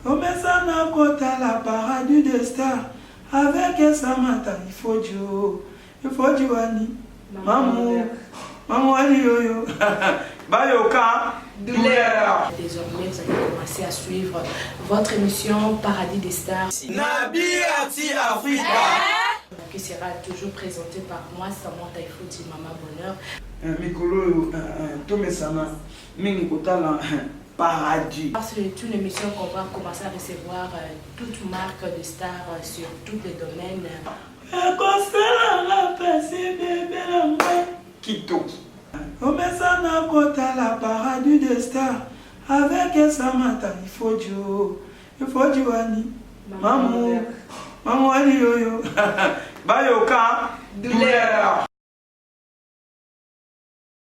Omesana kotala paradis de star avec Samantha Ifojo Ifojo wani mamu mamu wani yoyo bayoka douleur. Désormais, vous allez commencer à suivre votre émission Paradis des Stars. Nabi Ati Africa. Eh? Qui sera toujours présenté par moi, Samantha Ifojo, Maman Bonheur. Eh, mikolo oyo eh, tomesana mingi kotala paradis. Parce que tout le monsieur comprend comment ça recevoir euh, toute marque de star euh, sur tous les domaines. ekosalanga pasi bebe na ngai kitoki omesana kotala paradis de star avec esamata ifodio ifodiwani mamu mamu wani yoyo bayoka douleur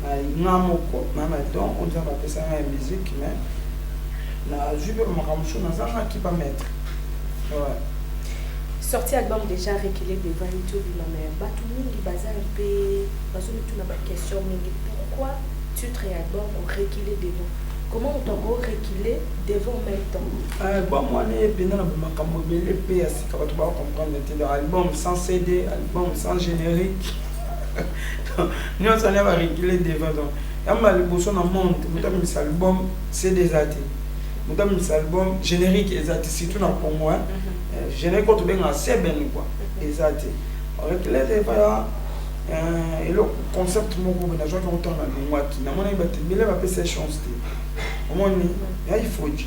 Nga moko na ba don oyo nzambe apesa nga ya musique mais na zui pe ba makambo mosusu na zangaki ba maitre ouais. Sortie ya album dejà reculer devant YouTube na mais batu mingi baza un pe bazo mituna ba question mingi pourquoi titre ya album o reculer devant comment moto ako reculer devant en même temps. Album wana ebenda na ba makambo ebele pe ya sika batu ba comprendre te donc album sans CD album sans generique nionso wana ba reculer devant donc ya mbala ya liboso na monde mutu abimisa album CD eza te mutu abimisa album generique eza te surtout na Congo hein euh, generique oyo tobengaka seben quoi eza te reculer devant ya euh, eloko concept moko boye nazwaki yango ntango nalongwaki namonaki bato ebele bapesa chance te omoni ya ifoji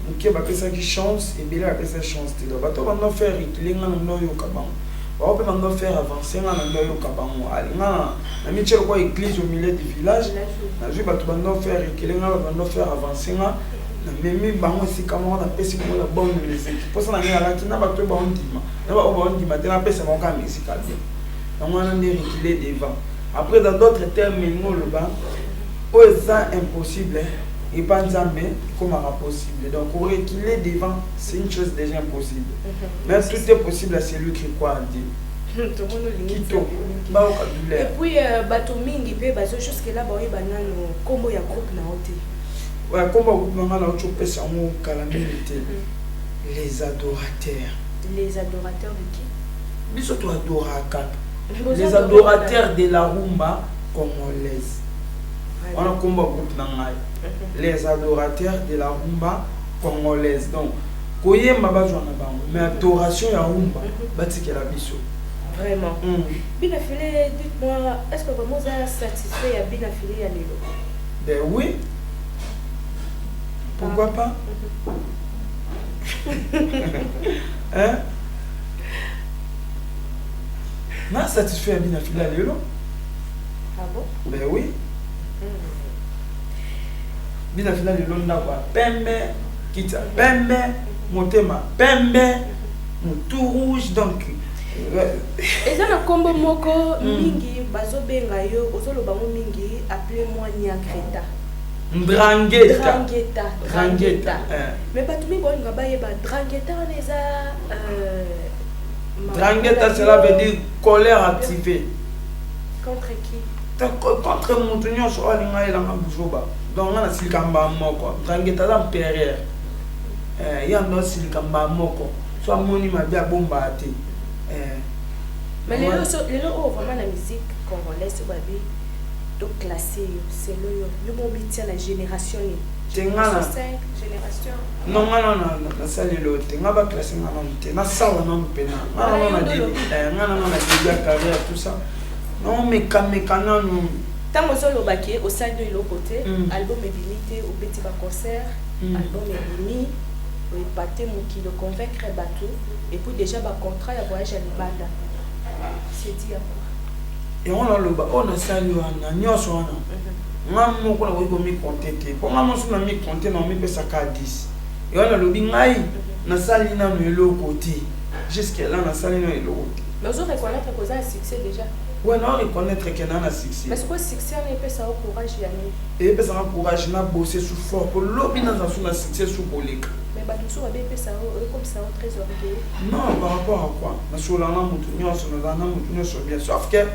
moke bapesaki chance ebele bapesa chance te donc bato banda faire reculer ngai na noyoka bango Bango pe bando faire avancer nga na ndo yoka bango ale nga na mitie lokola eglise au milieu du village nazui batu bando faire reculer nga batu bando faire avancer nga na memi bango esika moko na pesi bango la bonne musique posa na nga alaki na batu ba ondima na ba oba ondima te na pesa bango ka musique ya bien yango wana nde reculer devant après dans d'autres termes ngo loba oyo eza impossible epa nzambe ekomaka possible donc ko reculer devant c'est une chose déjà impossible Mais tout est possible à celui qui croit en Dieu. Et puis euh, bato mingi mpe bazo jusque là baoyeba nano nkombo ya groupe na yo te ouais, nkombo ya groupe na ngai nauti opesa yango kala mingi te mm. les adorateurs les adorateurs de qui biso toadoraka les adorateurs de la rumba congolaise wana nkombo ya groupe na ngai mhm. les adorateurs de la rumba Congolaise donc koyemba bazwa na bango mais adoration ya rumba batikela biso. Vraiment. Hum. Bina File, dites-moi, est-ce que vraiment oza satisfait ya Bina File ya lelo? Ben oui. Pourquoi ah. pas? hein? na satisfait ya bina fila lelo ah bon? ben oui mm. Bina fina lelo ndaku ya pembe kiti ya pembe motema pembe mutu rouge donc eza na kombo moko hmm. mingi bazo benga yo ozo loba ngo mingi appeler moi niakreta Drangheta. Drangheta. Drangheta. Eh. Mais bato mingi baolinga bayeba Drangheta wana eza euh, Drangheta cela veut dire colère activée. Contre qui contre mutu nyonso oyo alinga elanga buzoba donc nga nasilika mbaa moko ngangeta aza mperere eh, ye ando asilika mbaa moko so amoni mabe abombaa te eh. mais lelo so lelo oyo vraiment na musique congolaise babi to classe yo selo yo yo mo bitia na génération nini tengana non nga nana nasali lelo te nga ba classe nga nanu te nasala nanu mpena nga nano na debi ya carrière tout ça Non meka meka nanu. Tango ozo loba ke osali no eloko te, album ebimi te, obeti ba concert, album ebimi, o epater mokili, o convaincre batu, et puis dejà ba contrats ya voyage ya libanda, c'est dit à quoi? Yango nazo loba, oyo na sali wana nionso wana, nga moko na koki ko mi compter te, po nga moko soki na mi compter nako mi pesa ka 10. Yango na lobi ngai na sali nanu eloko te, jusque là na sali nanu eloko te. Mais ozo reconnaitre que oza na succès dejà? Oui, nao reconnaitre que naa na succès. Mais sikoyo succès wana epesa yo courage ya nini? Epesa nga courage na bosser su fort po lobi nazala su na succès su koleka. Mais batu mosusu babe epesa yo, ekomisa yo très orgueilleux? Non, par rapport à quoi? Na sololaka na mutu nionso, nazalaka na mutu nionso bien sauf que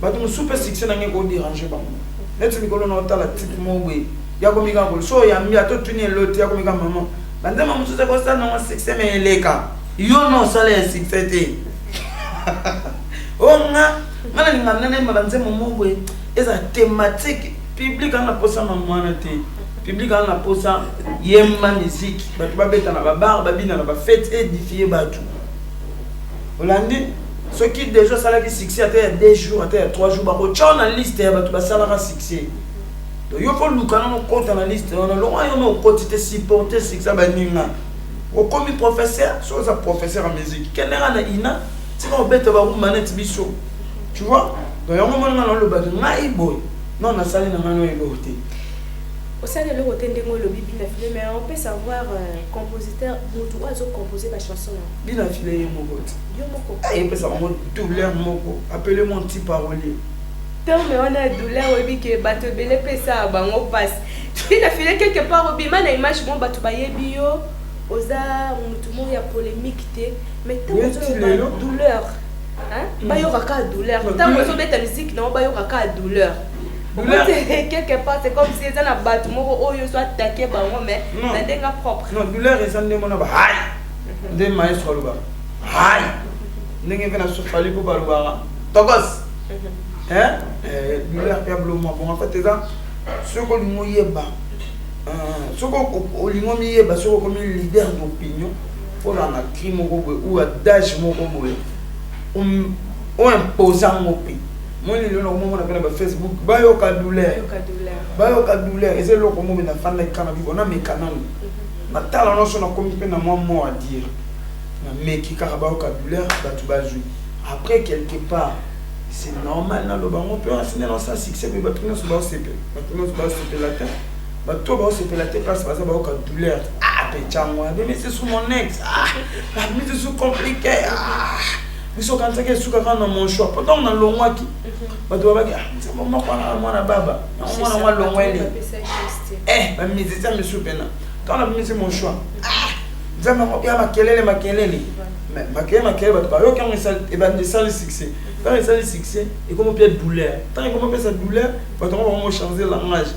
batu mosusu pe succès na nga eko deranger bango. Neti mikolo nao tala type moko boye, ye akomi kaka ko, soki oyambi ye ata otuni ye eloko te ye akomi kaka maman ba nzembo mosusu eko sala na nga succès mais eleka. Yo no sala ya succès te. Oh nga nga na linga nene ma banze momo boye eza thématique public anga posa na mwana te. Public anga posa yemba musique bato babeta na ba bar babina na ba fête édifier bato. Olandi soki déjà osalaki succès ata ya 2 jours ata ya 3 jours bakotya na liste ya bato basalaka succès donc yo koluka nano okota na liste wana longo yo na okoti te supporte succès baninga Okomi professeur soki oza professeur ya musique kende nga na ina tika obeta ba rumba neti biso tu vois donc yango moni nga nalobaki ngai boye non nasali na ngai no eloko te osali eloko te ndenge olobi bina file mais on peut savoir euh, compositeur motu oyo azocompose bachanson yango bina file ye moko te yo moko ayepesa bango douleur moko apele mo nti parolier terme wana ya douleur oyebi ke bato ebele epesaka bango mpasi Linda Fille quelque part obima na image mo batu bayebi yo oza mutu mo ya polemique te mais tango ozoloba douleur hmm. bayoka kaka douleur ntango ozobeta miziki nango bayoka kaka douleur quelque part c'est comme si eza na bato moko oyo ozo atake bango mais na ndenge propre non douleur eza nde mona ba hai nde maestro alobaka hai ndenge mpe na sofali mpo balobaka tokos douleur mpe ya bloma bon en fait eza Soki olingi oyeba, soki olingi omiyeba, soki okomi leader d'opinion mpo na na cri moko boye ou adage moko boye o imposa yango mpe moi lelo na komomona mpe na ba facebook bayoka douleur bayoka douleur eza eloko moko na fanda ekana bibo na meka nanu mhm. na tala nyonso nakomi mpe na mwa mot à dire na meki kaka bayoka douleur bato bazwi après quelque part C'est normal na loba ngo pe on asina na sa succès pe batu nyoso ba sepe batu nyoso ba sepe la te batu ba sepe la te parce baza ba oka douleur ah pe chango mais mais c'est sous mon ex ah la mise ah, sous compliqué ah biso kanisa ke suka kana mon choix pourtant on a longwa ki batu ba ki ah c'est bon moko na mwana baba na mwana mwa longwa ele eh ba mise ça me soupena quand la mise mon choix ah nzambe ya makelele makelele Mais makele makele bato bayoki yango ebandi esali succès ntango esali succès ekomi mpe douleur ntango ekomi mpesa douleur bato yango bango change langage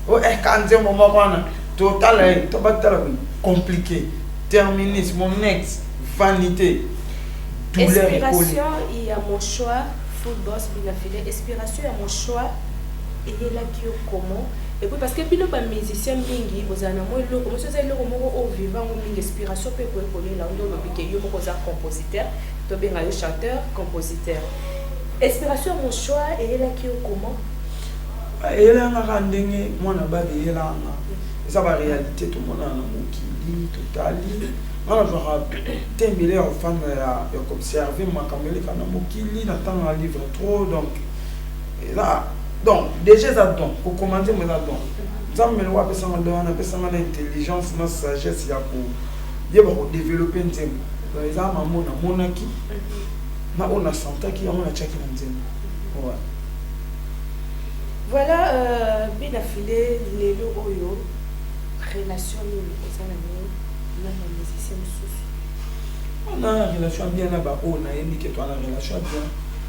o oh, eh, ka nzembo moko wana totala ye eh, to batala boye compliqué terminus monex vanité douleur ekoli ya mochoir football binafile inspiration ya mochoir eyelaki yo comment Epuis parce que bino ba musiciens mingi bozala na mwa eloko mais soki eza eloko moko o viva ngo mingi inspiration pe ekoki kolela yo nde olobi ke yo moko oza compositeur to benga yo chanteur compositeur inspiration ya mochoir eyelaki yo comment? Eyelaki nga kaka ndenge mwana bado eyelaka nga eza ba realite tomonana na mokili totali nga nazwaka te mbele ya kofanda ya kobserve makambo eleka na mokili na tanga livre trop donc eza don deja eza don kokoma nzembo eza don nzambe loko apesanga don wana apesanga na intelligence na sagesse ya koyeba kodevelope nzembo don eza mambo namonaki na oyo nasantaki yango natiaki na nzembo ouais. voilà euh, bina file lelo oyo relation nini eza na nini na bamusicien mosusu na relation bien na baoyo nayebi ke toa na relation bien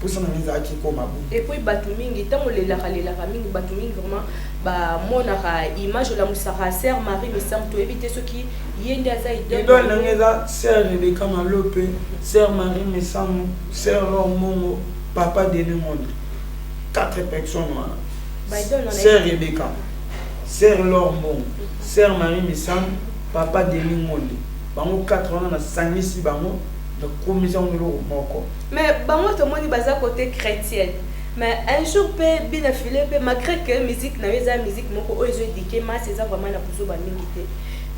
posa na nga ezalaki ekoma bo et puis batu mingi tango olelaka lelaka mingi batu mingi vraiment bamonaka image olamusaka sœur marie misamu toyebi te soki ye nde aza idole na nga eza sœur rebeka malope sœur marie misamu sœur lor mongo papa dene monde quatre personnes wana sœur rebeka sœur lor mongo sœur marie misamu papa dene monde bango quatre wana nasangisi bango Na komi za ngo eloko moko. Mais bango to moni baza cote chretienne mais un jour pe bina filet pe malgre que musique nayo eza musique moko oyo ezo eduquer masse eza vraiment na buzoba mingi te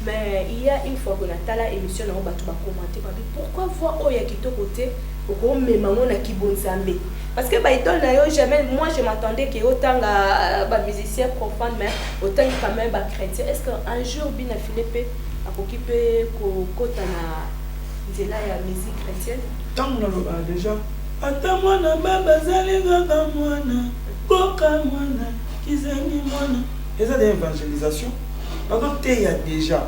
mais il ya une fois que na tala emission na yo batu ba commenter ba bi pourquoi voix oyo ya kitoko te oko mema ngo na kibonzambe parce que ba idole na yo jamais moi je m'attendais que otanga euh, ba musicien profane mais otangi quand même ba chretien est ce que un jour bina filet pe akoki pe kokota na nzela ya musique chretienne. Tango na lobaka dejà ata mwana baba azali kaka mwana koka mwana kizengi mwana eza dejà evangelisation bazo teya dejà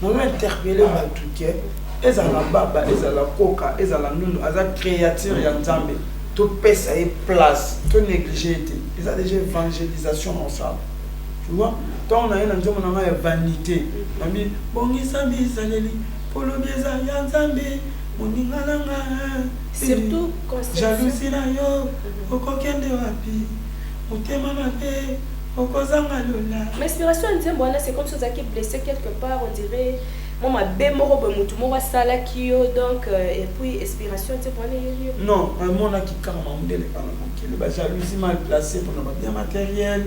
na lo interpele batu ke ezala baba ezala koka ezala nunu aza creature ya nzambe topesa ye place to néglige ye te eza dejà evangelisation na osala Tu vois? Ntango naye na nzembo na ngai ya vanite, nalobi bongisa bizaleli mpo lobi eza ya Nzambe moninga na nga eh. Jalousie na yo mhm. okokende wapi? Motema mabe okozanga lola. Ma inspiration ya nzembo wana c'est comme si ozalaki blessé quelque part on dirait mwa mabe moko boye motu moko asalaki yo donc euh, et puis inspiration nzembo wana eyeli yo? Non, namonaki kaka mamudele kaka Quelle ba jalousie mal placée pour nos biens matériels.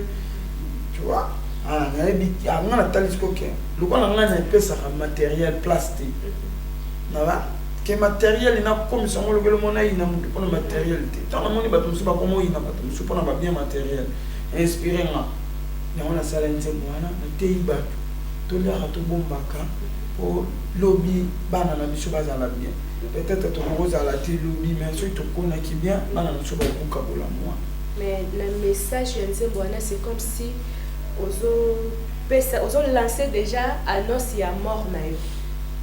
Tu vois? Ah, nayebi ah, nga natalisi koke lokola nga na epesaka matériel place te naba ke matériel nakomisa yango lokelo mona yina motu mpona matériel te ntango namoni bato mosusu bakoma oyina bato mosusu mpona babien matériel inspire nga yango nasala nzembo wana nateyi bato tolyaka tobombaka mpo lobi bana na biso bazala bien Peut etre toko zala te lobi mais soki to konaki bien bana na biso bako kabola mua. Mais na message ya nzembo wana c'est comme si ozo pesa ozo lancer dejà annonce ya mort na yo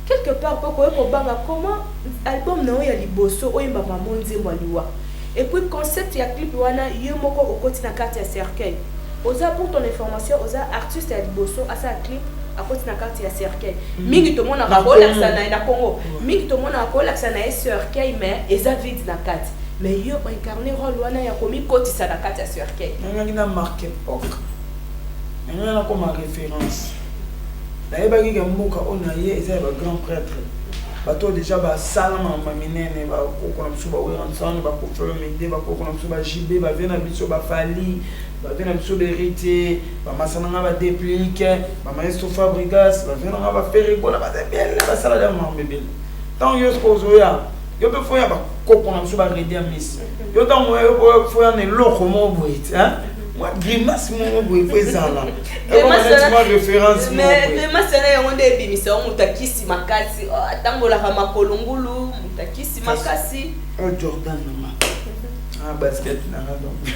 quelque part mpo okoki kobanga comment album na yo ya liboso oyemba mamo nzembo ya liwa et puis concept ya clip wana yo moko okoti na karte ya cercueil oza pour ton information oza artiste ya liboso asala clip akoti na karte ya cercueil mm. mingi tomonaka kolakisa na ye na congo mm. mingi tomonaka kolakisa na ye cercueil mais eza vide na kati mais yo oincarne role wana ya komikotisa na kati ya cercueil nangaki na marque epoque nangaki nakoma référence nayebaki ke mboka oyo na ye eza ya bagrand prêtre bato oyo deja basala mama minene bakoko na biso baweranson bakofelo mide bakoko na biso bajibe bavie na biso bafali bavie na biso berite ba masa na nga ba deplique ba maestro fabrigas ba vieux na nga ba ferre bola ba ebele basala da mambo ebele ntango yo soki ozoya yo mpe foya bakoko na biso baredi ya misi yo ntango oya yo boya foya na eloko moko boye ti mwa grimace moko boye po ezala ekomanatima référence grimace na yango nde ebimisa yo moto akisi makasi oh, atambolaka makolo ngulu moto akisi makasi oh, jordan nanga ah, basket nanga donc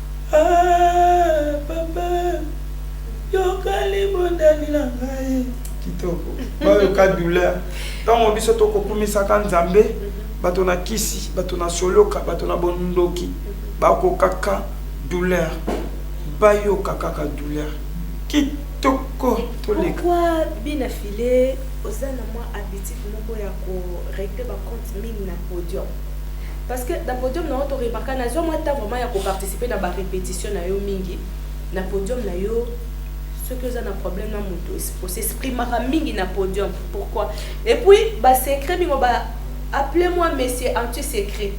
Aah papa yoka libondeli na ngai. Kitoko bayoka douleur tango biso toko kumisaka nzambe bato na kisi bato na soloka bato na bondoki bako kaka douleur bayoka kaka douleur kitoko toleka. Pourquoi bina filet oza na mwa habitude moko ya ko regler ba compte mingi na podium. Parce que na podium na yo to remarka na zwa mwa temps vraiment ya ko participer na ba repetitions na yo mingi na podium na yo soki oza na problème na moto o s'exprimaka mingi na podium pourquoi et puis ba secret mingo ba appelez moi monsieur anti secret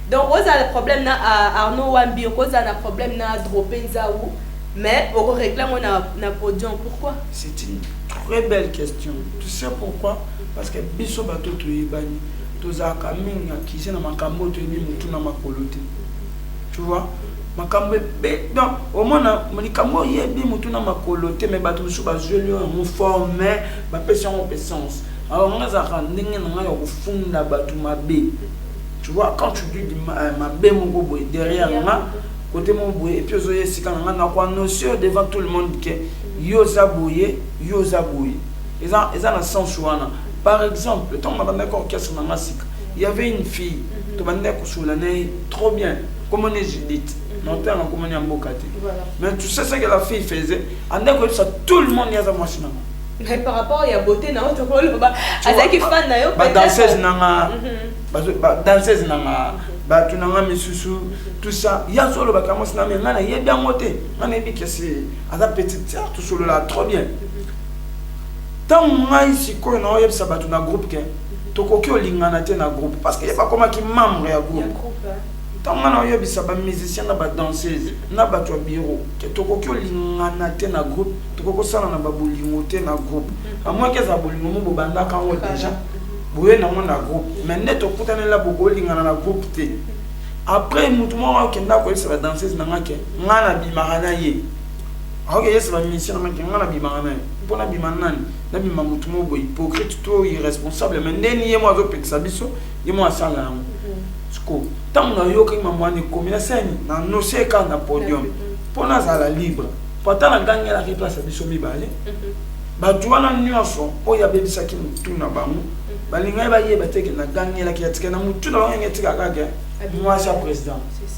donc ozala na problème na ah, arnaud wambi okozala na problème na drope nzau mais okoregle yango na, na podium pourquoi c'est une très belle question tu sais pourquoi parce que biso bato toyebani Tozalaka mingi na cuisine na makambo oyo toyebi mutu na makolo te. Tu vois? Makambo ebe donc omona likambo oyebi mutu na makolo te mais bato mosusu bazweli yo yango fort mais bapesi yango mpe sens. Alors nga ezalaka ndenge na ngai ya kofunda bato mabe. Tu vois quand tu dis euh, mabe moko boye derrière nga kote moko boye epuis ozoya esika na ngai nakoanonse devant tout le monde ke yo oza boye yo oza boye eza, eza na sens wana Par exemple, ntango nabandaki orchestre na nga sika, il y avait une fille tobandaki kosolola na ye trop bien kombo ne Judith naotanga kombo ya mboka te mais tu sais ce que la fille faisait andaki koyebisa tout le monde ye aza mwasi na nga mais par rapport ya beauté na oto koloba azalaki fan na yo ba danseuse na nga mhm. ba danseuse na nga bato na nga misusu mhm. tout ça ye azolobaka mwasi na nga ngai nayebi yango te ngai nayebi kesi aza petite sœur tosolola trop bien mhm. Tango ngai sikoyo nao yebisa batu na groupe que tokoki olingana te na groupe parce que ye bakomaki membre ya groupe. Tango ngai nao yebisa ba musiciens na ba danseuses na batu ya bureau que tokoki olingana te na groupe, tokoki kosalana ba bolingo te na groupe. A moins que ezala bolingo moko bobandaka yango dejà, boye nango na groupe mais neti okutani la bokoki olingana na groupe te. Après mutu moko akenda koyebisa ba danseuses na ngai que ngai nabimaka na ye. aoke yesu ba mission na maki nga na bima na ye mpo na bima nani na bima motu moko boye hypocrite to irresponsable mais nde ni ye mo azopekisa biso ye mo asala yango mhm. siko ntango nayokaki mama wana ekomi na sani na nosie kaka na podium mpo mhm. nazala libre mpo ata nagangelaki place ya biso mibale mhm. bato wana nyonso oyo abebisaki motu na bango balingaki bayeba te ke nagangelaki ya tika na motu na bango yange etikakake mwasi ya président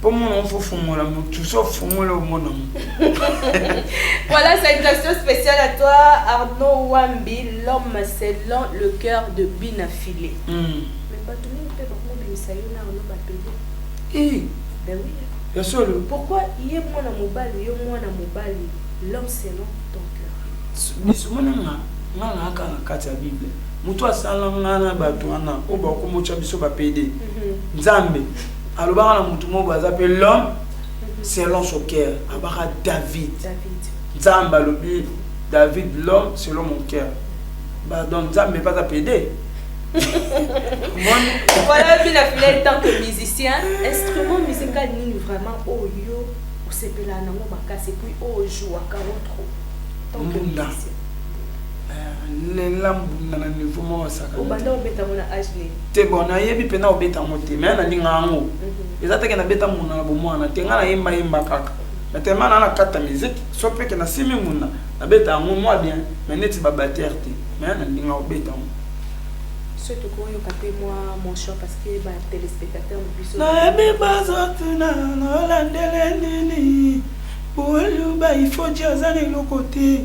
po mona fo fungola mutu so fungola omona mu voilà salutation spéciale à toi Arnaud Wambi l'homme selon le cœur de Bina Filet mm. mais bato mingi mpe bakobimisa yo na Arnaud bapede eh. ben oui ya solo pourquoi ye mwana mobali yo mwana mobali l'homme selon ton cœur biso mwana nga nga na aka na kati ya bible moto asala nga na bato wana oyo bakomotya biso bapede mhm. nzambe Alobaka na mutu moko aza pe l'homme selon son cœur. Abaka David. David. Nzambe alobi David l'homme selon mon cœur. Pardon, Nzambe pas à pédé. voilà bino afilai tant que musicien instrument musical nini vraiment oyo oh, osepelaa nango makasi epuis oyo oh, jouaka otro tant que musicien nella mbunda na niveau moko asaka obanda obeta ngo na age nini te bon nayebi mpe na obeta ngo te mais nalinga yango mhm. eza teke nabeta mbunda na bomwana te ngai nayemba yemba kaka mais tellement naa nakata miziki so mpeke nasimi mbunda nabeta yango mwa bien mais neti babatere te mais nalinga obeta ngo biso tokoyoka mpe mwa monchon parce que batelespectateur na biso nayebi bazotuna nolandele nini boyuba ifoji aza na eloko te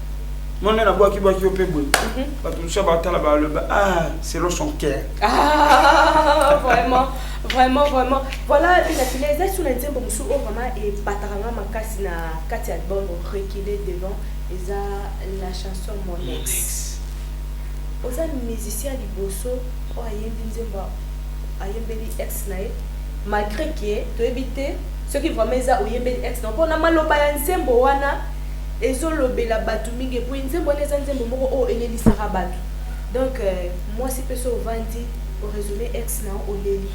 Mwana na bwaki bwaki yo pe boye. Mhm. Bato mosusu batala baloba ah selon son cœur. Ah vraiment vraiment vraiment voilà mpena fina eza sur na nzembo mosusu oyo vraiment ebataka nga makasi na kati ya album recule devant eza la chanson monex oza musicien liboso oyo ayembi nzembo ayembeli ex na ye malgré ke toyebi te soki vraiment eza oyembeli ex na mpo na maloba ya nzembo wana ezo lobela batu mingi epuis nzembo wana eza nzembo moko oyo elelisaka batu donc mwasi pe so ovandi o resume ex na yo oleli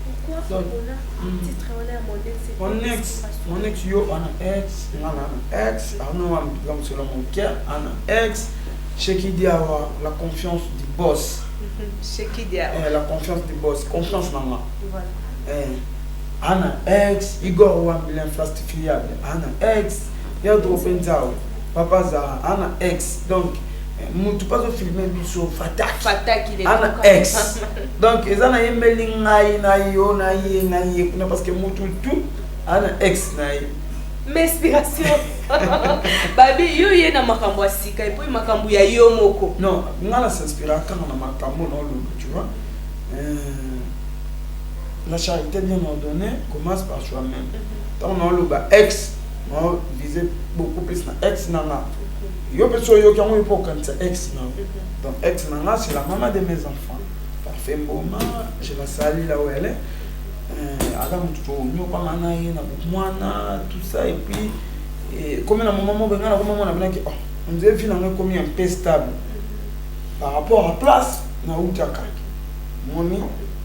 pourquoi opona titre wana ya mon ex mon ex mon ex yo ana ex nga na ana ex arno wa mpiga mosolo mon cœur ana ex sheki diawa la confiance du boss sheki diawa eh, la confiance du boss confiance na nga voilà eh Ana ex Igor wambi l'infrastifiable Ana ex Pedro Penzao Papa Zara Ana ex donc eh, mutu pazo filme biso fataki fataki Ana ex donc eza na yembeli ngai na yo na ye na ye kuna parce que mutu tout Ana ex na ye mais inspiration babi yo ye na makambo ya sika epuis makambo ya yo moko non ngai na s'inspira kaka na makambo na olobi tu vois euh... La charité bien ordonnée commence par soi-même. Tant on loba ex, on vise beaucoup plus na ex nana. Yo pe so yo kango yo pour kanisa ex na. Donc ex nana c'est la maman de mes enfants. Parfait Mboma, je la salue là où elle est. Euh, aza motu tonyokama na ye na bomwana tout ça et puis ekomi na moma moko bengai nakoma mona binaki oh, onzire vi nango ekomi un peu stable par rapport à place nautaka moni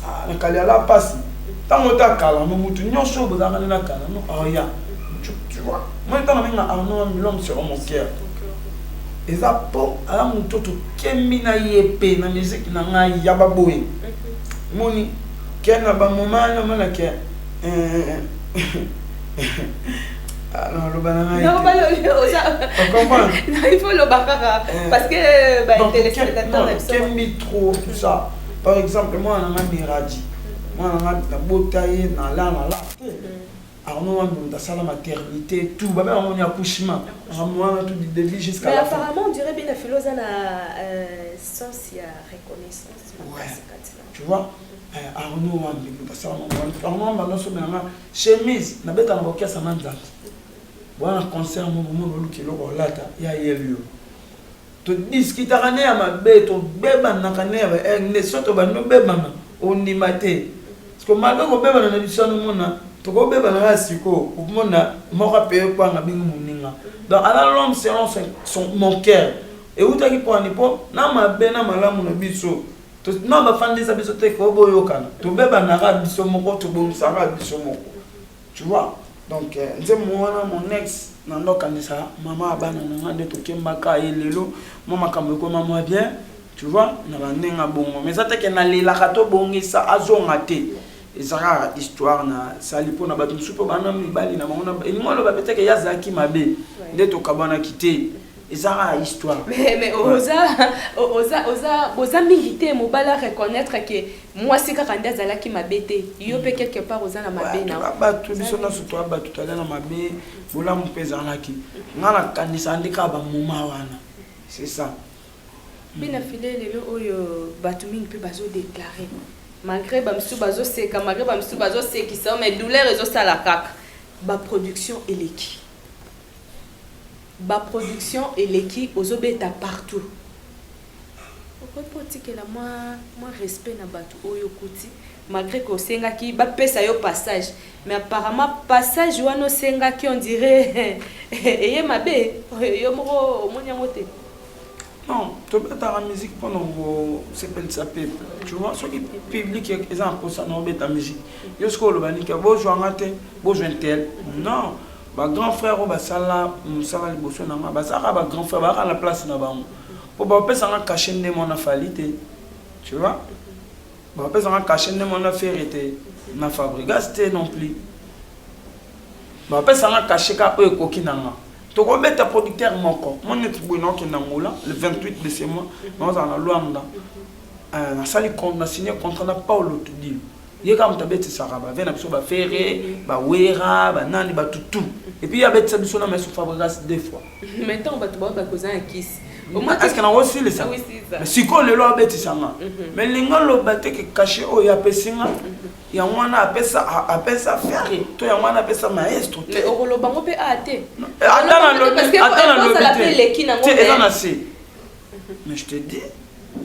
Ah, na kaliala pasi ntango ota kalano motu nyonso oyo bozalaka nde na kalano aria ah, tu vois moi ntango nabenga arno ah, milom sur mon cœur eza mpo aza moto tokemi na ye mpe na miziki na ngai ya baboye moni ke na bamoma namona ke eh, naloba na ngai il faut loba kaka eh. parce que ba téléspectateurs na biso kemi trop tout ça par exemple mwana na nga Miraji mwana na nga nabota ye na la na la te arno wana moto asala maternité tout babe yango ni accouchement arno wana tout du début jusqu'à la fin apparemment on dirait bien filo oza na euh, sens ya reconnaissance tu vois eh, arno wana moto asala arno wana banda sobe nanga chemise nabeta na bokiasa na nzambe bwana concert mokomona oluki eloko olata ya yeli yo To discutaka ne ya mabe to bebanaka ne ya ba eh nde soto bandi obebana ondima te siko mabe oko bebana na biso wana omona toko bebana kaka siko okomona moko ape kwanga bingi moninga donc ala l'homme selon son mon cœur ewutaki po ani po na mabe na malamu na biso to na ba fandisa biso te ko boyokana to bebanaka biso moko to bongisaka biso moko Tu vois? Donc nzembo wana mon ex na ndo kanisa mama abana na nga nde tokemba ka ye lelo mwa makambo ekoma mwa bien tu vois na ba ndenge ya bongo mais eza te ke nalelaka tobongisa azonga te ezaka histoire na sali mpo na bato mosusu mpo bana mibali na bango elingi oloba mpe te ke ye azalaki mabe nde tokabwanaki te eza kaka histoire mais mais oza oza oza boza mingi te mobali a reconnaître ke Mwasi kaka nde azalaki mabe te, yo pe quelque part oza na mabe na yo. Batu biso nionso toza batu tozali na mabe, bolamu pe ezalaki. Nga na kanisaka nde kaka ba moment wana. C'est ça. Pe na filet lelo oyo batu mingi pe bazo declarer malgre ba misusu bazo seka, malgre ba misusu bazo sekisa yo mais douleur ezo sala kaka. Ba production eleki. Ba production eleki ozo beta partout okoki pe otikela mwa mwa respect na batu oyo okuti malgre que osengaki ba pesa yo passage mais apparemment passage wana osengaki on dirait eye mabe yo moko omoni yango te? Non tobetaka musique pona kosepelisa peuple tu vois soki public eza na posa na obeta musique yo soki oloba nini ke bozwa nga te bozwa intel non Ba grand frère oyo basala mosala liboso na nga bazalaka ba grand frère bazalaka na place na bango mpo bapesa nga kashe nde mwana fali te tu vois bapesa nga kashe nde mwana fere te na fabrigas te non plus bapesa nga kashe ka oyo ekoki na nga tokobeta producteur moko moi neti boye naokende angola le 28 de ce mois naozala na luanda nasali na signe contrat na paulo tudilo ye kaka moto abetisaka bave na biso bafere bawera banani bato tout epuis ye abetisa biso na maestro fabrigas deux fois mais ntango bato bao bakoza na kisi eske nango osilisa ah sikoyo lelo abetisa nga mhm. mais linga loba te ke kashe oyo apesi nga mhm. yango wana apesa apesa fere to yango wana apesa maestro te okoloba ngo mpe a te ata na lobi te eza na se mhm. mais je te dis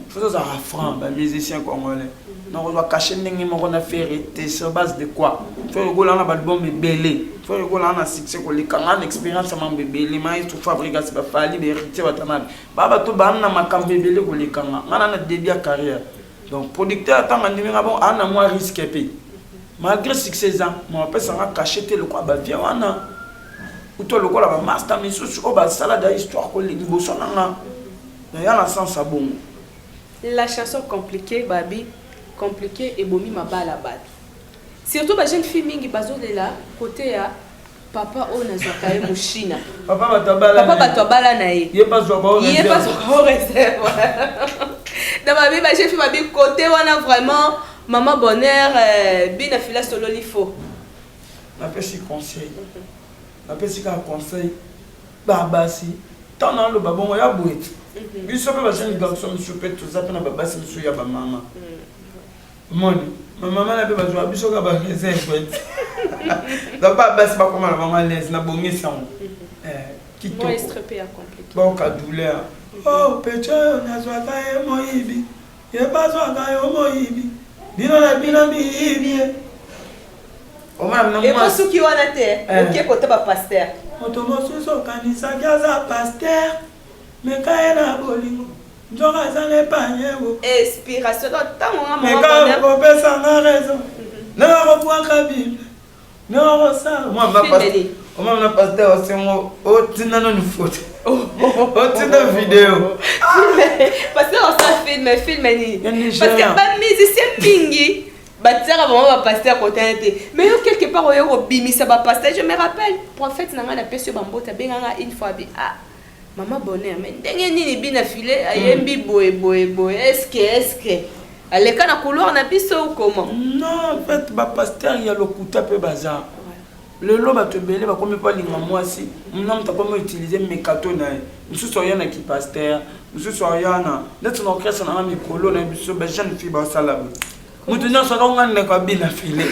faut ozalaka franc ba musicien congolais donc ozwa cache ndenge moko na ferre te sur base de quoi faut okolaa na balbum ebele faut okolaa na succès koleka nga na expérience ya mambo ebele maestro fabrigas bafali baheritier batanabe ba bato baana na makambo ebele koleka nga nga na na début ya carrière donc producteur ntango andimi nga bon ana mwa risque mpe malgré succès eza ma bapesa nga cache te lokola bavie wana uto lokola bamasta misusu oyo basala da histoire liboso na nga Na ya na sens ya bongo. La chanson complique babi complique ebomi mabala batu surtout ba jeune fille mingi bazo lela kote ya papa oyo na zwaka ye mushina papa batu abala papa batu abala na ye ye pas zwaka oyo ye pas zwaka oyo reserve na babi ba jeune fille babi kote wana vraiment maman bonheur euh, bina fila solo lifo na pesi conseil na pesi ka conseil Ba basi tant na loba bongo ya boye biso pe ba jeunes garçons misusu pe toza pe na ba basi misusu ya ba mama omoni ba mama na pe bazwa biso ka ba reserve donc ba basi bakoma na bango à l'aise na bongisi yango eh, kitoko baoka douleur oh pecho nazwaka ye moyibi Ye bazua nga yo moyibi bino na bino miyibi ye. Omona bino mwasi. Eko suki wana te oke kota ba pasteur. Moto mosusu okanisaki aza pasteur meka ye na bolingo nzoka aza na epanye bo. Inspiration donc tango nga maman bonheur. Meka okopesa nga raison nanga kobuaka bible Non, oh, ça, on m'a pas Fimeli. On m'a pas dit, oh, c'est moi, oh, tu n'as une faute. Oh, tu n'as une vidéo. Parce que on s'en filme, filme, ni. Ya Nigeria. Parce que ba musicien mingi, batiaka vraiment ba pasteur côté na te. Mais yo quelque part oyo kobimisa ba pasteur, je me rappelle, prophète na ngai na pesi yo ba mbote abenga ngai une fois bi. Ah, Maman bonheur mais ndenge nini bina file ayembi mm. boye boye boye eske eske aleka na couloir na biso ou comment non en fait ba pasteur ya lokuta pe baza lelo bato ebele bakomi mpo alinga mwasi mna moto akomi utilize mekato na ye mosusu aya na kipaster mosusu aya na ndeti na orchestre nanga mikolo na biso bajeune fille basala boye moto nyonso akonga ndeko abina file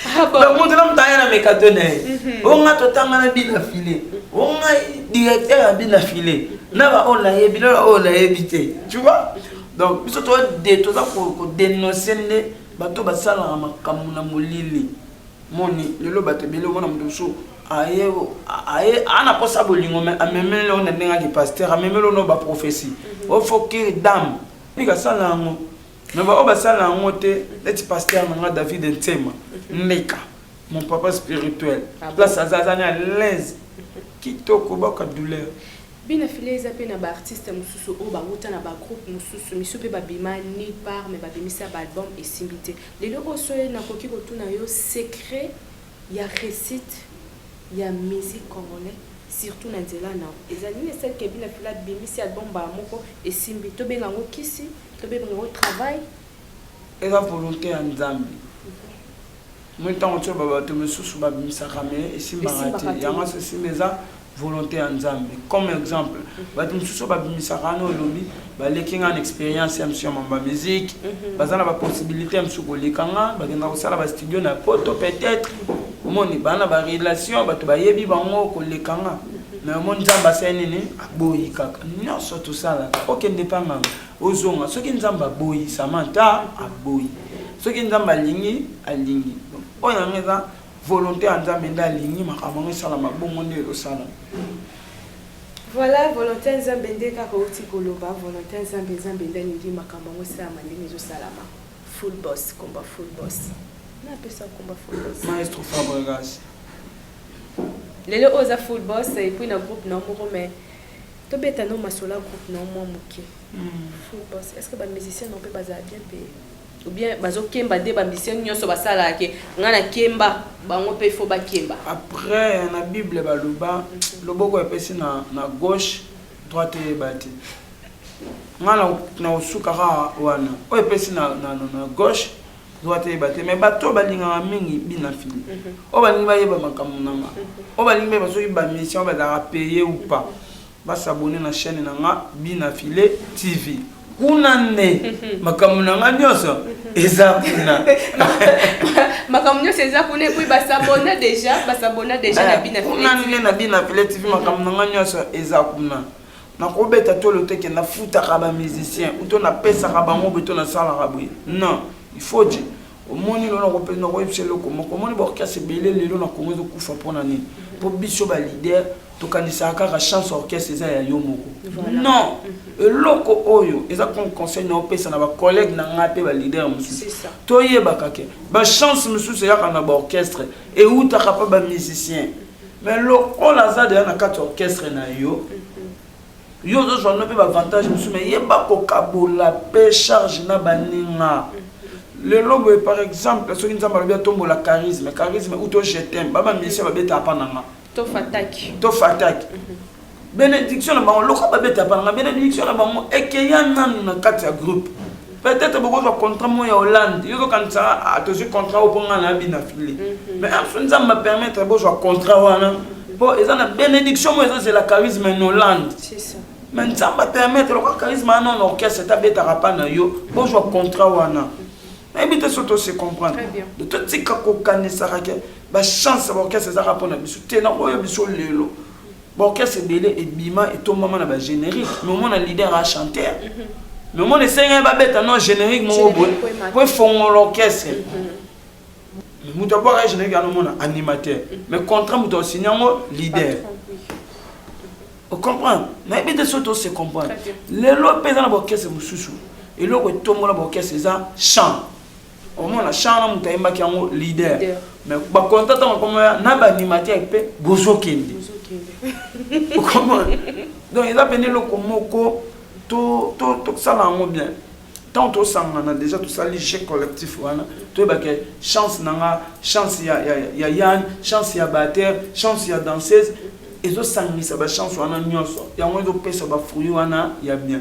Ah donc moto na moto aya na mekato na ye mhm. onga totanga na bina file onga directeur ya bina file na baoyo nayebi na baoyo nayebi te tu vois donc biso toza kodenonse nde bato basalaka makambo na molili moni lelo bato ebele omona moto mosusu aye aye ana kosa bolingo me amemeli yango na ndenge ake pasteur amemeli ono baprophesie mhm. ofokiri dame pika sala yango mais baoyo basala yango te neti pasteur na nga david nsema meka mon papa spirituel ah place aza azani à l'aise kitoko baka douleur bina file eza mpe na baartiste mosusu oyo bawuta na bagroupe mosusu misu mpe babima ni part me babimisa baalbum esimbi te lelo oyo soye nakoki kotuna yo secret ya récite ya musique congolais surtout na nzela na eza nini esalike bina file abimisi album baa moko esimbi tobenga yango kisi Tobenga yango travail. Eza volonté ya Nzambe. Moi ntango tio babato misusu babimisaka me esimbaka te yango aso esimba eza volonté ya nzambe comme exemple mhm. bato mosusu oyo babimisaka wana olobi baleki nga na expérience ya msio mamba musique mhm. baza na bapossibilité ya mosusu koleka nga bakenda kosala bastudio na poto peut-être omoni baa na barelation bato bayebi bango koleka nga mhm. mais omoni nzambe asali nini boyi kaka nyonso tosalaka okende mpa nganga ozonga soki nzambe aboyi samanta aboyi soki nzambe alingi alingi oyo yango eza volonté ya nzambe nde alingi makambo yango esalama bongo nde ezosalama voilà volonté ya nzambe nde kaka outi koloba volonté ya nzambe nzambe nde alingi makambo yango esalama ndenge ezosalama full boss combat full boss napesa combat full boss maestro fabregas Lelo oyo oza full boss et puis na groupe na yo moko mais to beta no masolo ya groupe na yo mwa moke. Full boss est-ce que ba musiciens na yo pe bazala bien payés? Ou bien bazo kemba nde ba musiciens nionso ba salaka ke nga na kemba bango pe faut ba kemba? Après na bible ba loba loboko epesi na na gauche droite eyeba te. Nga na na osuka kaka wana oyo epesi na na na gauche droit eyeba te mais bato oyo balingaka mingi bina fili mhm. oyo balingi bayeba makambo na nga mhm. oyo balingi bayeba soki bamisien oyo bazalaka paye ou pas mhm. basabone na chaîne na nga bina file tv kuna nde makambo na nga nyonso eza kuna makambo nyonso eza kuna epui basabona deja basabona deja na eh, bina kuna nde na bina file tv makambo na nga nyonso eza kuna nakobeta tolo te ke nafutaka ba musicien uto napesaka bango boye to nasalaka boye non ifaudi omoni lelo nakoyebisa eloko moko omoni baorchestre ebele lelo na kongo ezokufa mpona nini mpo biso balider tokanisaka kaka chance orchestre eza ya yo moko non mhm. eloko oyo eza comme conseil na opesa na bacollègue na ngai mpe balider mosusu toyebaka ke bachance mosusu eyaka na baorchestre eutaka mpe bamusicien mais lokola aza deja na kati orchestre na yo yo ozozwa no mpe baavantage mosusu mai yeba kokabola mpe charge na baninga lelo boye par exemple soki nzambe alobi atombola charisme charisme ou to jetem baba musicien babetaka mpa na nga to fataki mhm. benediction na bango lokola babeta banga benediction na bango ekeya nanu na kati ya groupe peut-être bokozwa contrat mo ya hollande yo zokanisa ah, tozwi contrat oyo mpo ngai nayabi na file mhm. mais aso nzambe apermettre bozwa contrat wana mpo eza na benediction mo ezozela charisme na hollande mais nzambe apermettre lokola charisme wana na orchestre tabetaka mpa na yo bozwa contrat wana nayebi te soki tose comprendre totika kokanisaka ke bachance ya baorchestre ezaka mpo na biso te nakoyo biso lelo ba orchestre ebele ebima etombama na ba générique mais omona leader a chanter mais omona esengeli babeta no générique moko boye po efongola orchestre moto abwaka ye générique yana omona animateur mais contrat moto asini yango leader ocomprendre nayebi te soki tose comprendre lelo mpe eza na baorchestre mosusu eloko etombola baorchestre eza chant omona chant na moto ayembaki yango leader mais bakonta ntango akomaya na baanimateur mpe bozokende okomona donc eza mpena eloko moko tosala yango bien ntango tosangana déjà tosali jeu collectif wana toyebaka chance na nga chance ya, ya, ya yan chance ya bater chance ya danseuse ezosangisa bachance wana nyonso yango ezopesa bafruit wana ya bien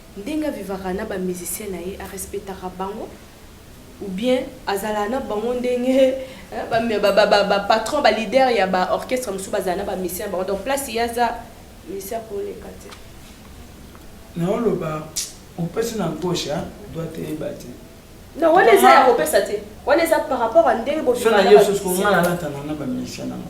Ndenge a vivaka na ba musiciens na ye a respectaka bango ou bien azalaka na bango ndenge ba patron ba leader ya ba orchestre mosusu bazala na ba musiciens na bango donc place ye aza musicien ako leka te. Na oloba opesi na gauche hein doit eyeba te. Non wana eza ya kopesa te wana eza par rapport à ndenge bo vivaka na ba musiciens. Soki na ye lisusu ko nga na latana na ba musiciens na nga.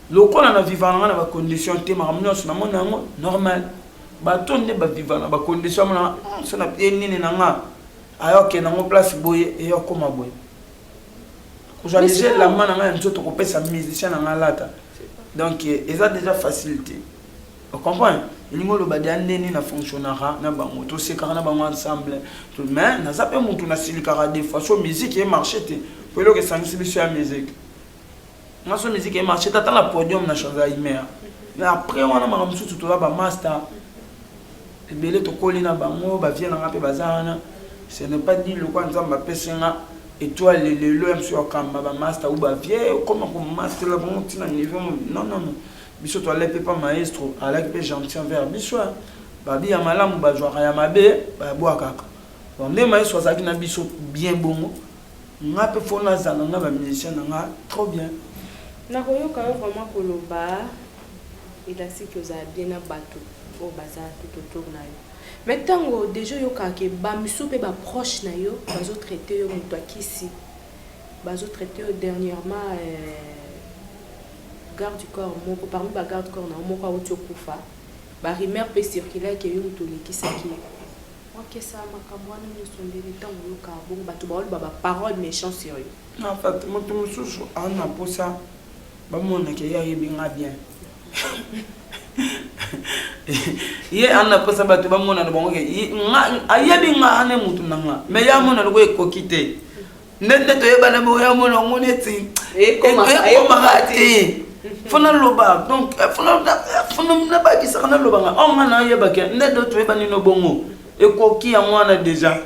Lokola na viva na nga na ba conditions te makambo nyonso na mona yango normal bato nde ba viva na ba conditions mona hmm, so na pie nini na nga ayoke nango place boye eyokoma boye kozwa deja elamba na nga ya nzoto kopesa musicien na nga alata donc eh, eza deja facilité ocomprendre elingi oloba deya nde nini na fonctionnaka na bango tosekaka na bango ensemble mais naza mpe motu nasilikaka de façon musique ye marché te mpo eloko esangisi biso ya musique Maso musique e marche tata na podium na chanza imer. Mais après wana makambo mosusu toza ba master. Ebele tokoli na bango, ba vieux na nga mpe baza wana. Ce n'est pas dit lokola Nzambe apesi nga étoile lelo ya mosusu akamba ba master ou ba vieux okoma ko master la bango tina niveau non non non. Biso to alaki mpe maestro, alaki mpe gentil envers biso. Babi ya malamu bazwaka ya mabe, babwakaka. Bon, nde maestro azalaki na biso bien bongo. Nga pe faut nazala na ba musiciens na nga trop bien. Nakoyoka yo vraiment koloba elastique oza bien na batu oyo baza tout autour na yo mais tango deja oyokaka ke ba misusu pe ba proche na yo bazo traite yo mutu ya kisi bazo traite yo dernièrement garde du corps moko parmi ba garde corps na yo moko awuti okufa ba rumeur pe circula ke yo mutu olekisaki ye Okesa makambo wana nioso ndenge tango oyoka bongo batu baoloba ba parole mechant sur yo. En fact mutu mususu aza na posa ba mona ke ye ayebi nga bien ye aza na posa batu ba mona na bango ke ayebi nga ane mutu na nga mais ye amona lokola ekoki te. nde nde toyebana boye amona yango neti ekomaka te fo naloba donc eh, eh, nabakisaka nalobanga o oh, nga nayebake nde do toyebanino bongo ekoki yango wana deja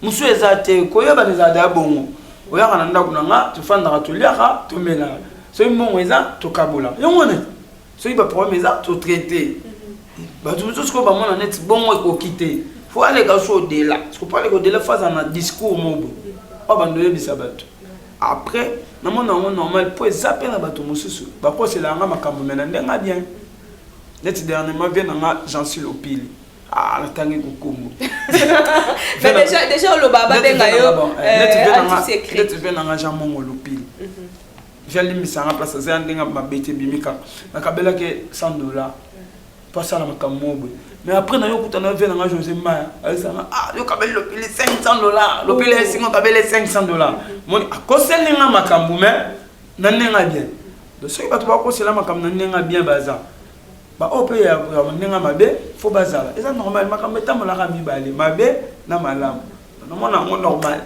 mosusu eza te koyebana ezala deya bongo oyaka na ndako na nga tofandaka toliaka tomelaka soki mbongo eza tokabola yango wana soki ba problème eza to traiter bato mosusu sikoyo bamona neti bongo ekoki te fo aleka so odela siko mpo aleka odela fo aza na discours mobo oyo bando oyebisa bato après namona yango normal mpo eza mpe na bato mosusu bakosela yanga makambo me na ndenge bien neti dernièrement vie na nga jansi lopili ah, natangi kokombo deja oloba babenga yo neti vie na nga jean mongo lopili mhm. vie alimbisa nga place aza ya ndenge ya mabe te ebimi kaka nakabelaki 100 dollar po asala makambo moko boye mais après nayo okutana vie na nga josé mbaya ayesanga ah yo kabeli lopili 500 dollar lopili ya esinga okabeli 500 dollar moni akoseli nga makambo mais na ndenge ya bien donc soki bato bakosela makambo na ndenge ya bien baza baoyo mpe ya ndenge mabe fo bazala eza normal makambo etambolaka mibale mabe na malamu namona yango normal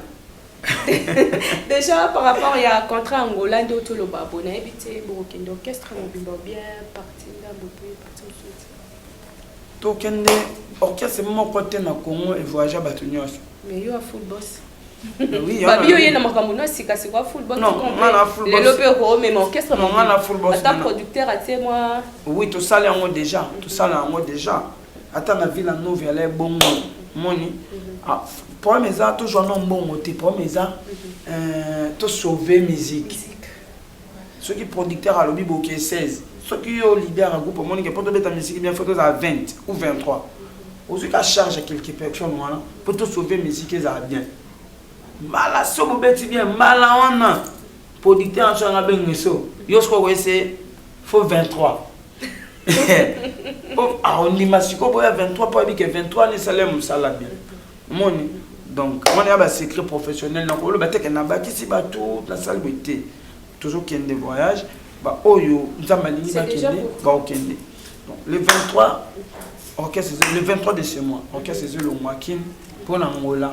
Déjà par rapport ya contrat Angola ndio toloba bo nayebi te bokokende orchestre mobimba ou bien parti ndambo mpe parti mosusu tokende orchestre moko te na Congo evoyagea bato nyonso mais yo ya full boss babi yo ye na makambo no sika sikoa full boss lelo mpe okoomema orchestre ata producteur atie mwa oui tosala yango déjà tosala yango déjà ata na villa nova ala ebongo moni ah, problème eza tozwa no mbongo te problème eza mhm. euh, tosauve musique soki producteur alobi boke 16 soki yo leader ya groupe omonike mpo tobeta misiki bien fo tozala 20 ou 23 ozwi ka charge ya quelque personne wana mpo tosauve misiki ezala bien mbala so bobeti bien mbala wana producteur yanso yanga bengeso yo soki okoyese fo 23 oh, aondima ah, sikoyo boya 23 mpo ayebi ke 23 wana esala mosala bien omoni donc wana ya basecret professionnel na koloba teke nabakisi bato nasali boye te tozokende voyage baoyo nzambe alingi bakende baokende donc le 23 orchestre le 23 de ce mois orchestre ezolongwa kin mpo na ngola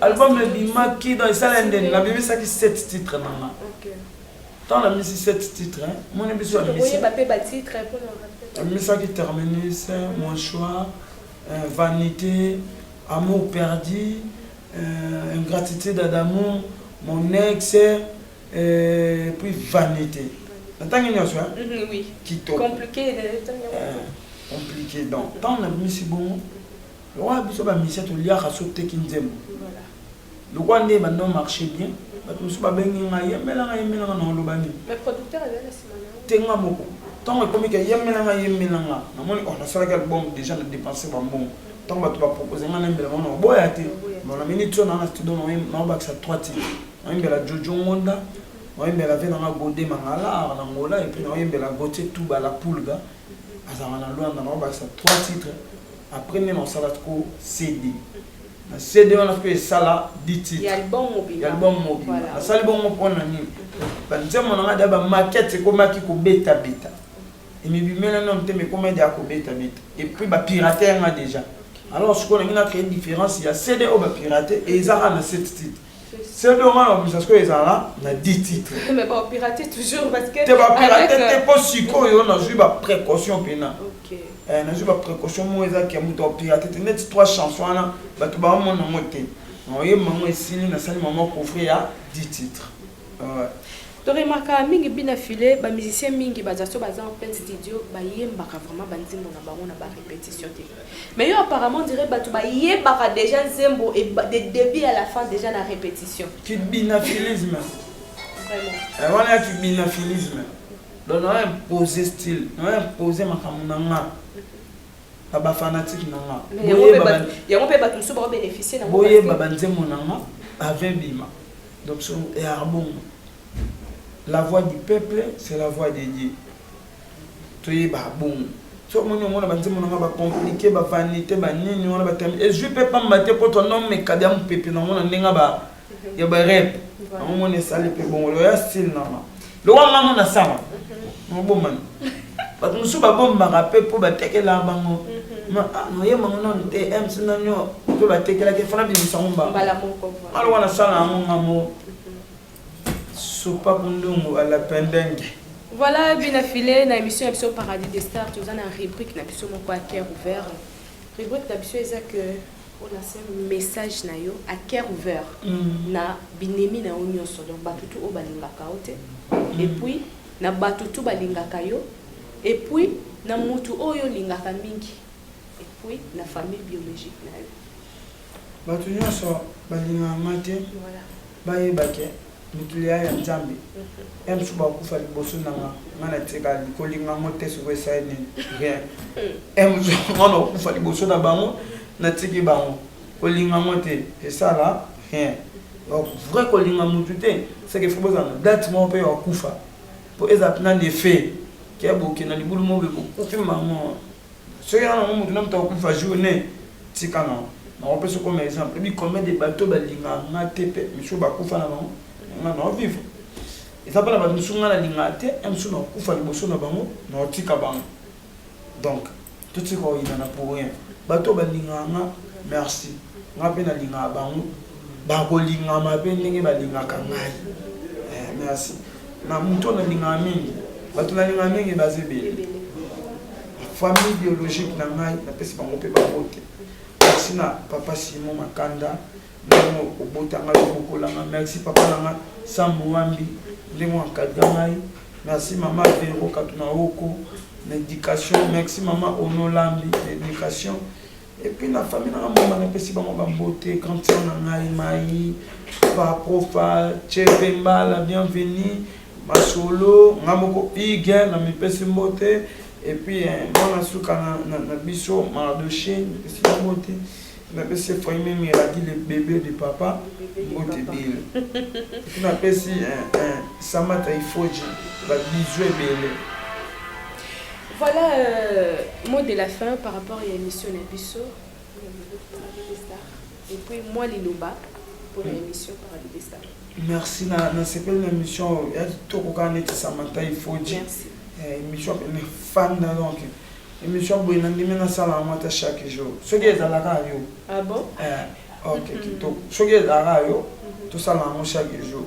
album ebimaki donc esala ndeni nabimisaki 7 titre nanga ntango namisi 7 titre moni biso amisaki terminus mon choix euh, vanité amour perdu euh, ingratitude d'amour mon ex euh, puis vanité natangi nyonso kitoko compliqué donc ntango nabimisi bongo Lokola biso ba musiciens toliaka soki toteki nzembo. Lokola nde ebanda o marche bien, bato mosusu babengi nga yembela nga yembela nga na oloba nini? Mais producteur azali na sima na yo? Te nga moko. Tango ekomi ke yembela nga yembela nga, namoni oh nasalaki album dejà na depense ba mbongo. Tango bato ba proposer nga nayembela bango nakoboya te. Bon na minute oyo naza na studio nakobakisa trois titres. Nakoyembela Jojo Ngonda, nakoyembela vieux na nga Gode Mangala, art na Angola et puis nakoyembela Gauthier Tuba la Pulga. azalaka na Luanda na obakisa trois titres après nde nasala ko CD na CD wana mpe esala dix titres ya album mobimba Voilà. nasali bongo mpo na nini banzembo na ngai da bamaquette ekomaki kobetabeta emibimela na motema ekoma ede akobetabeta epuis bapirate yanga déjà alors sikoyo nangi na créer différence ya CD oyo bapirate ezaka na sept titres Sebe on a obligation que ezala na 10 titres. Mais ba pirater toujours parce que te ba pirater te euh, po sikoyo na zui ba précaution pena. OK. Eh na zui ba précaution mo eza ke muto pirater te net trois chansons wana bato ba mona mote. Na oye mango esili na sali maman coffre ya 10 titres. To remarquaka mingi bi na filet ba musiciens mingi ba zaso baza en plein studio ba yembaka vraiment ba nzembo na bango na ba repetition te. Mais yo apparemment dirait batu ba yebaka déjà nzembo et de début à la fin déjà na repetition. Ki binafilisme. Vraiment. Eh, wana ki binafilisme. Donc na imposer style, na imposer makambo na nga. Na ba fanatique na nga. Yango pe batu mosusu ba bénéficier na ngo. Boyeba ba nzembo na nga avec bima. Donc son et arbongo. La voix du peuple c'est la voix de Dieu. Toyeba bongo. so omoni omona banzembo nanga bacomplike bavanité banini wana batami ezwi mpe pamba te mpo tonomeka bya mopepe nango na ndenge ya barep yango mona esali mpe bongo loya style nanga lowa nga mona sama mobomani bato mosusu babombaka mpe mpo batekela bango noye bango nanu te mc nanio mpe batekelaki efana bimisa ngo mbalowa nasala yango nga mo sopa kundungu alapendenge voilà bina file na émission ya biso paradis des stars toza na rubrique na biso moko ya cœur ouvert rubrique na biso eza que pona se message na yo a coeur ouvert na binemi na yo nionso donc batu tout oyo balingaka yo te et puis na batu tout balingaka yo et puis na mutu oyo olingaka mingi et puis na famille biologique na yo. Batu nionso balingaka nga te bayeba ke Litulia ya nzambe ya msuba akufa liboso na nga nga na tika likolinga ngo te soko esai nini rien ya msuba mwana akufa liboso na bango na tiki bango kolinga ngo te esala rien donc vrai kolinga mutu te seke fo bozala na date moko mpe ya kufa mpo ezala mpena na effet ke bokenda libulu moko bokufi mango soki na nango motu na moto akokufa jour ne tika nango nakopesa okoma exemple ebi combien de bato balinga nga te mpe misusu bakufa na bango nga nao vivre eza mpe na bato mosusu nga nalinga te e mosusu nakokufa liboso na bango naotika bango donc totika oyinana pour rien bato balingaka nga merci nga mpe nalingaka bango bakolingama mpe ndenge balingaka ngai eh, merci Na mutu oyo nalingaka mingi, bato nalingaka mingi baza ebele. Famille biologique na ngai napesi bango mpe babote. Merci na papa Simon Makanda ndenge obota ngai obokola ngai. Merci papa na ngai Sam Muambi ndenge oencadre ngai. Merci mama Vero Katunaoko na education. Merci mama Onolambi na education. Et puis na famille na mama na pesi bango ba beauté quand tu na ngai mai pa profa chepe mbala bienvenue masolo nga moko iga na mipesi mbote et puis eh, mwana suka na, na, na biso mardoche mipesi mbote napesi efraim emiradi le bebe de papa mbote bile epi napesi eh, eh, samata ifoji babizu ebele Voilà euh, mot de la fin par rapport ya émission na biso et puis moi liloba pour la émission par rapport star. Merci na na sepeli na émission ya kitoko kaka neti Samantha Ifoji. Merci. Eh, émission na fan na donc émission boye na ndimi nasala yango ata chaque jour soki ezalaka yo. Ah bon? Eh, ok kitoko soki ezalaka yo tosala yango chaque jour.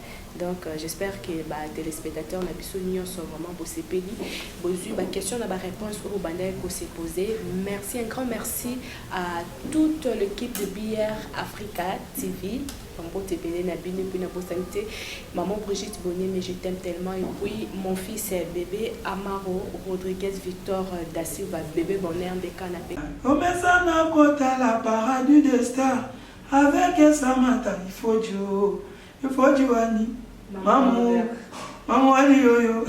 Donc j'espère que ba telespectateurs na biso nionso vraiment bosepeli bozui ba questions na ba réponses oyo bandaki ko se poser. Merci un grand merci à toute l'équipe de BR Africa TV. Mbote ebele na bino mpe nabosani te maman Brigitte Bonyeme je t'aime tellement et puis mon fils bébé Amaro Rodriguez Victor da Silva bébé bonheur nde kana mpe omesana kotala paradis de star avec Samantha Ifodio Efoji wani mamu mamu wani yoyo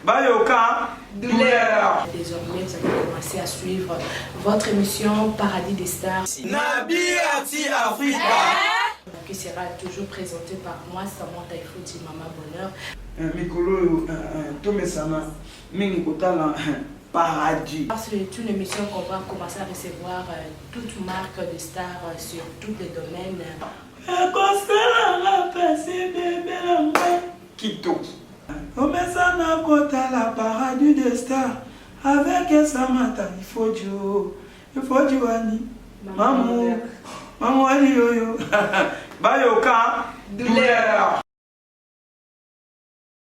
bayoka douleur. Désormais, vous allez commencer à suivre votre émission Paradis des Stars. Nabi Ati Africa. Eh? Qui sera toujours présentée par moi, Samantha Ifouti, Mama Bonheur. Eh, mikolo oyo eh, tomesana mingi kotala paradis. C'est une émission qu'on va commencer à recevoir euh, toute marque de stars euh, sur tous les domaines. Ekosala nga pasi bebe na nga. Kitoki. Omesana kotala paradis de star avec Samantha Ifodio. Ifodio wani? Mamu. Mamu wani yoyo. Bayoka douleur.